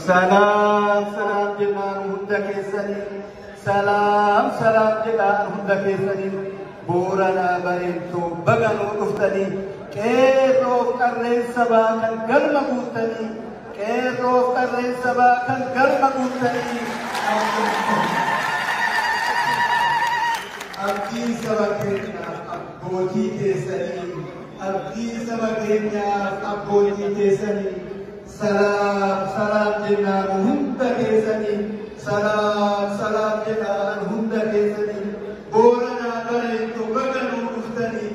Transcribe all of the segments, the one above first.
Salaam salaam jennaan hunda keessanii salaam salaam jedhaan hunda keessanii booranaa bareentoo baganuu dhuftanii qeerroof qarreen sabaa kan galma guuttanii qeerroof qarreen sabaa kan galma guuttanii abdii saba keenyaaf abbootii keessanii abdii saba keenyaaf abbootii keessanii Salaam salaam jenna nu hunda keessani Salaam salaam jedha an hunda keessani Booranaa bareeddu baga nuu dhuftani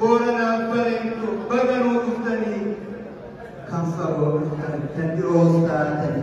Booranaa bareeddu baga nuu dhuftani Kan fagoo dhuftan kan dhiroos taatani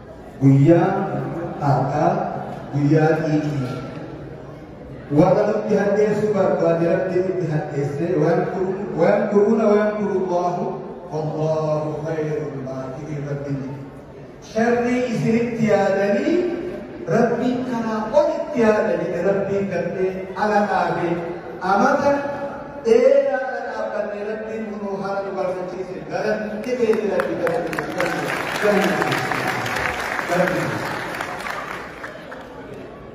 Guyyaan har'aa guyyaa xiiqii. Warra nutti hadheessuu barbaade Rabbiin nutti hadheessee wayankuruuna wayankurullaahu wallaahu khayrul maakirin Rabbiin jedhe. Sharrii isinitti yaadanii Rabbiin kanaa olitti yaada jedhe Rabbiin gaddee ala dhaabee amata dheeraa kana dhaabbanne rabbiin kunuu haala nu barfachiise galan dhibeeti rabbi galan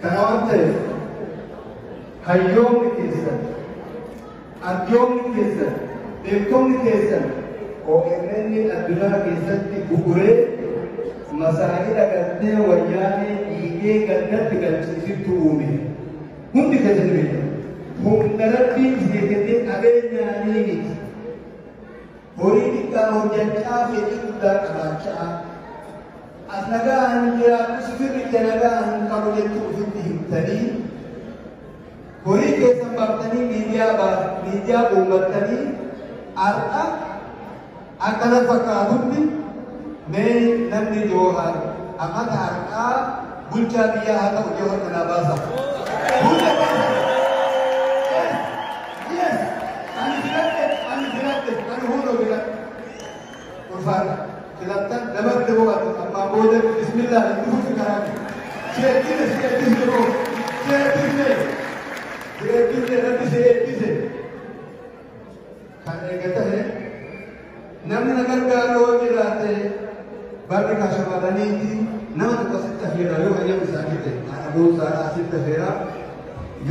kana waan ta'eef hayyoonni keessan arjoonni keessan beektonni keessan OMN addunyaa keessatti bu'uree masaa'ila galtee wayyaanee dhiigee gandatti galchiisittu uume. Hundi kan isin beekan humna rabbiin isin kennee qabeenyaa ni miti. Horii xiqqaa hojjachaa fedhii guddaa qabaachaa as nagaa hin jiraatu sifirri ija nagaa hin qabu jechuu ofitti himtanii horii keessan baaftanii miidiyaa miidiyaa uummattanii har'a Akka na fakkaatutti mee namni Joohaar amata har'aa bulchaa biyyaa haa ta'u jedhu harka naa baasa. Hunda keessa. Yes, yes. Ani filadhe, ani filadhe, ani hunda filadhe. Ulfaadha. Filattan nama bira boqotu ammaa booda bismillah hin dhufuufi karaa kee. Si eebbise, si eebbise boo. Si eebbise. Si eebbise, rabbi si eebbise. Kan eega tahe namni na gargaaru yoo jiraate barri kan shamarraniiti nama tokko sitti hafeera yoo hayyama isaanii ta'e haadha boonsaadhaa sitti hafeera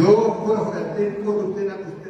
yoo kora fudhattee koo dhuftee na dhuftee